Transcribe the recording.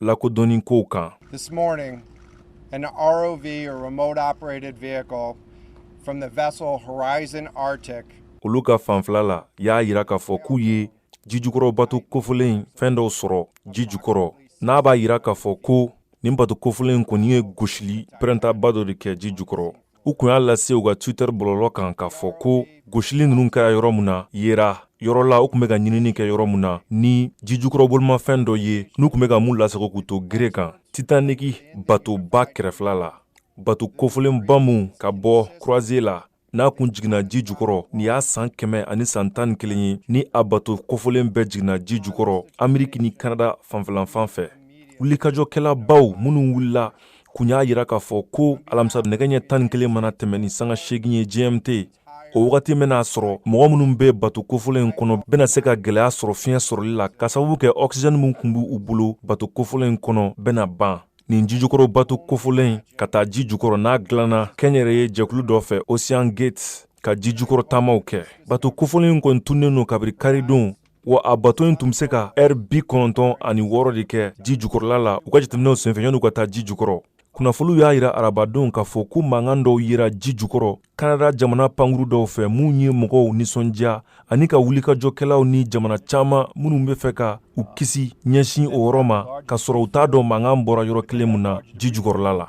lakodɔnni kow kan This morning, an ROV or remote operated vehicle from the vessel Horizon Arctic olu ka fanfɛla la y'a yira k'a fɔ k'u ye jijukɔrɔ bato kofolen fɛn dɔw sɔrɔ ji jukɔrɔ n'a b'a yira k'a fɔ ko nin bato kofolen kɔni ye gosili pɛrɛntaba dɔ de kɛ ji jukɔrɔ U kun y'a lase u ka Twitter bɔlɔlɔ kan k'a fɔ ko gosili ninnu kɛra yɔrɔ mun na yera yɔrɔ la u kun bɛ ka ɲinini kɛ yɔrɔ mun na ni jijukɔrɔbolimafɛn dɔ ye n'u kun bɛ ka mun lasago k'u to gere kan Titanic batoba kɛrɛfɛla la bato kofolenba mun ka bɔ croisière la n'a kun jiginna ji jukɔrɔ nin y'a san kɛmɛ ani san tan ni kelen ye ni a bato kofolen bɛɛ jiginna ji jukɔrɔ ameriki ni kanada fanfɛlanfan fɛ wulikajɔkɛlabaw minnu wulila kun y'a yira k'a fɔ ko alamisa nɛgɛ ɲɛ tan ni kelen mana tɛmɛn ni sanga seegin ye gmt o wagati bɛna sɔrɔ mɔgɔ minnu bɛ bato kofɔlen kɔnɔ bɛna se ka gɛlɛya sɔrɔ fiɲɛ sɔrɔli la ka sababu kɛ ɔksijɛni min kun b' u bolo bato kofɔlen kɔnɔ bɛna ban nin jijukɔrɔ bato kofɔlen ka taa ji jukɔrɔ n'a dilanna kɛnyɛrɛye jɛkulu dɔ fɛ ocean gate ka ji jukɔrɔ taamaw kɛ bato kofɔlen kɔni tunnen don kabiri karidon Wa a bato in tun bɛ se ka heure bi kɔnɔntɔn ani wɔɔrɔ de kɛ ji jukɔrɔla la u ka jateminɛw senfɛ yan'u ka taa ji jukɔrɔ kunnafoniw y'a yira arabadon k'a fɔ ko mankan dɔw yera ji jukɔrɔ kanada jamana pankurun dɔw fɛ min ye mɔgɔw nisɔndiya ani ka wulikajɔkɛlaw ni jamana caman minnu bɛ fɛ ka u kisi ɲɛsin o yɔrɔ ma k'a sɔrɔ u t'a dɔn mankan bɔra yɔrɔ kelen mun na ji jukɔrɔla la